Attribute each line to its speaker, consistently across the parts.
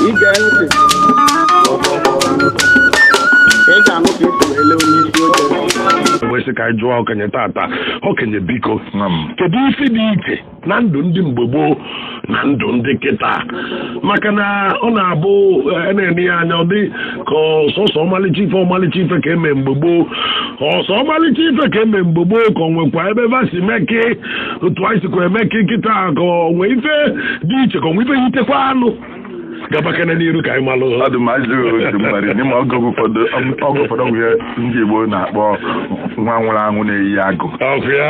Speaker 1: ige ntị ị ga-anụ ka esi wee lee onye isi oche wee sị ka anyị jụọ okenye tata okenye biko Nwa m. kedu ife dị iche na ndụ ndị mgbe gboo na ndụ ndị kịta maka na ọ na-abụ eh, e na-ene ya anya ọ dị ka ọ sọsọ ọmalịcha ife ọmalịcha ife ka eme mgbe gboo ọ sọ ọmalịcha ife ka eme mgbe gboo ka ọ nwekwa ebe va si meke otu anyị sikwa emeke kịta ka ọ nwee ife dị iche ka ọ nwee ife yitekwa unu gabakene n'iru ka anyị malụ ọ dị mma ajụ otu mmadụ
Speaker 2: n'ime oge ụfọdụ oge ụfọdụ bụ ihe ndị Igbo na-akpọ nwa nwụrụ anwụ na-eyi agụ ọ bụ ya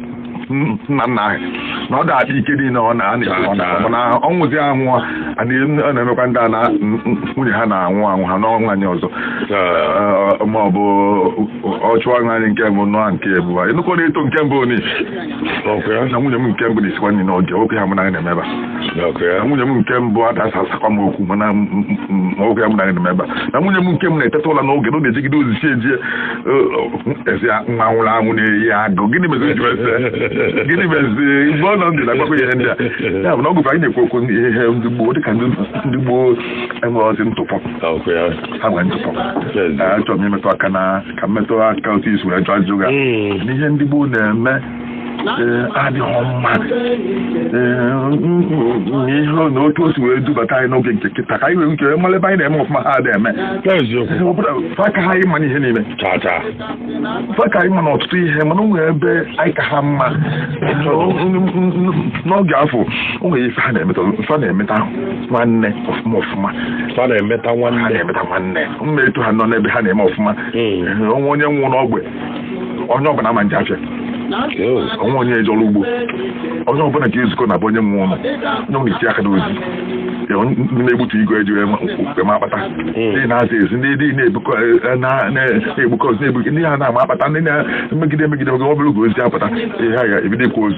Speaker 2: nna nna anyị na ọ da-adị ike niile ọ na-ekwu na ọ nwụzie anwụ a na-emekwa ndị a na nwunye ha na-anwụ anwụ ha anụọ nwaanyị ọzọ ma ọ bụ ọ chụọ nwaanyị nke mbụ nụọ nke ịbụa ị nụ ka ọ na-eto nke mbụ ni na nwunye m nke mbụ na-esikwa nri n'oge oke ha mụ na anyị na-emeba na nwunye m nke mbụ ada asa asakwa m okwu mana oke ha mụ na anyị na-emeba na nwunye m nke m na-eteta ụla n'oge na ọ na-ejegide ozi chi ejie a sị ya nwa nwụrụ anwụ na-eyi agụ gịnị mezi ji ese gịnị mezi mgbe ọ nọ ndụ na-agbakọ ihe ndị a ya bụ na ọ bụkwa anyị na-ekwu okwu ihe ihe ndị gboo dịka ndị ndị gboo enwerọzi ntụpọ Ọ bụ ya. ha nwere ntụpọ Yes. achọrọ m imetụ aka na ka m metụ aka otu i si wee jụ ajụjụ gị a. Mm. n'ihe ndị gboo na-eme adịghị mma ihe na otu o si wee dubata anyị n'oge nke kịta ka anyị wee nke mara ebe anyị na-eme ọfụma ha adịghị eme ọ bụ na fa ka anyị mma n'ihe niile fa ka anyị mma na ọtụtụ ihe mana o nwere ebe anyị ka ha mma n'oge afụ o nwere ife ha na-emeta fa na-emeta nwanne ọfụma ọfụma fa na-emeta
Speaker 1: nwanne ha na-emeta nwanne
Speaker 2: mma etu ha nọ n'ebe ha na-eme ọfụma o nwee onye nwụ n'ogbe onye ọbụla ama eje afịa o nwe onye eje ọrụ ugbo onye ọbụla ga-ezukọ na be onye nwụlụ onye ọbụla etii aka n'ozi Ya, onye- ndị na-egbutu igu eji wee ma- wee ma akpata ndị na-aza ezi ndị dị na-ebukọ eh, na- na-egbukọ osisi na-ebu ndị ha na-ama akpata ndị na-emegide emegide maka ọ bụrụ ka ozu apụta ihe a ga-ebido ịkwa ozu